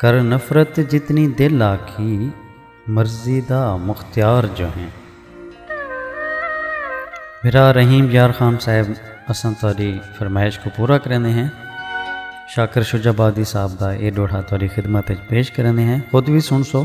کر نفرت جتنی دل آکھی مرضی دا مختیار جو ہیں۔ بھرا رحیم یار خان صاحب اساں تہاڈی فرمائش کوں پورا کریندے ہیں۔ شاکر شجاع آبادی صاحب دا اے ڈوہا تہاڈی خدمت اچ پیش کریندے ہیں۔ خود وی سنڑسو۔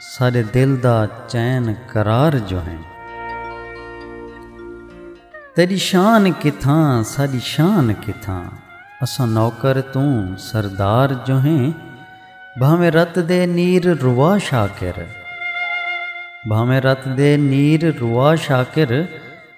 ساݙے دل دا چین قرار جو ہیں۔ تیݙی شان کتھاں ساݙی شان کتھاں۔ اساں نوکر توں سردار جو ہیں۔ بھانویں رت دے نیر روا شاکر بھانویں رت دے نیر روا شاکر۔